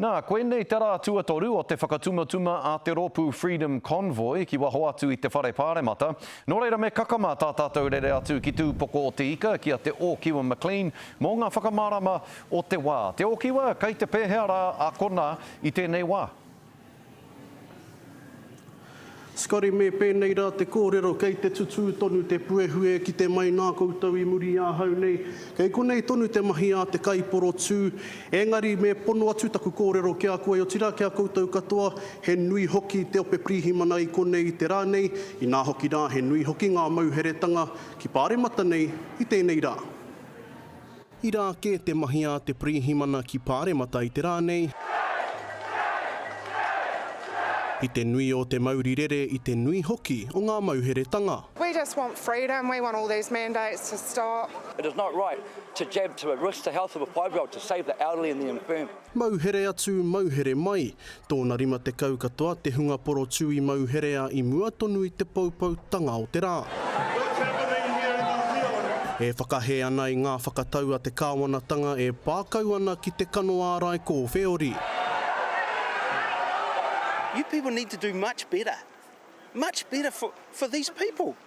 Nā, koinei te rā tuatoru o te whakatumatuma a te rōpū Freedom Convoy ki waho atu i te Whare Pāremata. Nō reira me kakama tā tātou rere atu ki Tūpoko o te Ika ki a Te Ōkiwa McLean mō ngā whakamārama o te wā. Te Ōkiwa, kei te pēhea rā ākona i tēnei wā? Scotty, Me pēnei rā te kōrero kei te tutū tonu te puehuē ki te mai nā koutou i muri i ahau nei. Kei konei tonu te mahi a te kaiporotū. Engari me pono atu taku kōrero ki a koe otirā ki a koutou katoa, he nui hoki te ope pirihimana i konei i te rā nei, inā hoki rā he nui hoki ngā mauheretanga ki Pāremata nei i tēnei rā. Ira ake te mahi a te Pirihimana ki Pāremata i te rā nei, i te nui o te mauri rere, i te nui hoki o ngā mauheretanga. We just want freedom, we want all these mandates to stop. It is not right to jab to a risk the health of a five year old to save the elderly and the infirm. Mauhere atu, mauhere mai. Tōna rima tekau katoa te hunga porotū i mauherea i mua tonu i te poupoutanga o te rā. E whakahē ana i ngā whakatau a te kāwanatanga e pā kau ana ki te kano ārai kōwheori. You people need to do much better, much better for these people.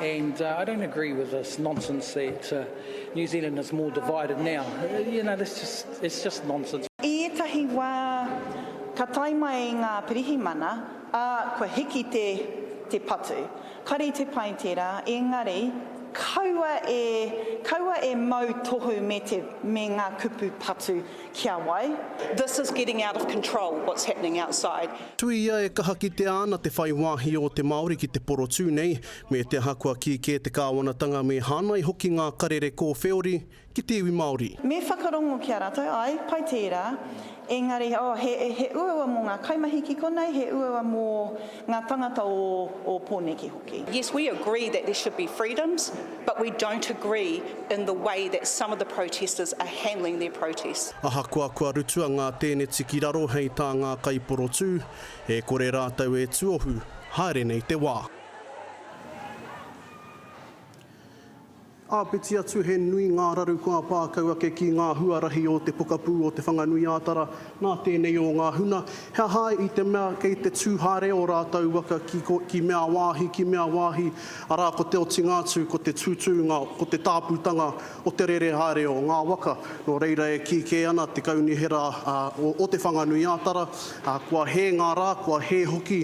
And uh, I don't agree with this nonsense that uh, New Zealand is more divided now. You know, that's just, it's just nonsense. I ētahi wā, ka tae mai ngā pirihimana, ā, kua hiki te, te patu. Kare te pai tērā, engari, kaua e, kaua e mau tohu me, te, me ngā kupu patu Kia wai? This is getting out of control, what's happening outside. Tuia e kaha kitea ana te whai wāhi ō te Māori ki te porotū nei, me te aha kua kī kē te kāwanatanga me hānai hoki ngā karere kōwheori ki te iwi Māori. Me whakarongo ki a rātou, āe, pai tērā, engari, oh, he uaua mō ngā kaimahi ki konei, he uaua mō. Ngā tangata o o Poneke hoki. Yes, we agree that there should be freedoms, but we don't agree in the way that some of the protesters are handling their protest. Ahakoa kua rutua ngā tēneti ki raro hei tā ngā kaiporotū, e kore rātou e tuohu, haere nei te wā. Āpiti atu he nui ngā raru kua pā kau ake ki ngā huarahi o te pokapū o Te Whanganui-ā-Tara nā tēnei o ngā huna, he aha i te mea kei te tū haere ō rātou waka ki mea wāhi, ki mea wāhi, arā ko te otinga atu ko te tūtūnga, ko te tāpūtanga o te rere haere o ngā waka. Nō reira e kī kē ana te Kaunihera o Te Whanganui-ā-Tara, kua hē ngā rā, kua hē hoki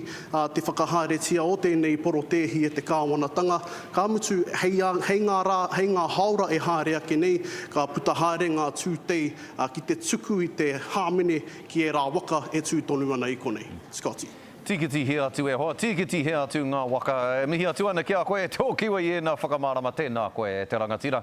te whakahaeretia o tēnei porotēhi e te kāwanatanga, Ka mutu, hei a, hei ngā rā, hei ngā hāora e haere ake nei, ka puta haere ngā tūtei ki te tuku i te hāmene ki ērā waka e tū tonu ana i konei. Scotty. Tīkitihia atu e hoa, tīkitihia atu ngā waka. E mihi atu ana ki a koe e te okiwa i ēnā whakamārama, tēnā koe e te rangatira.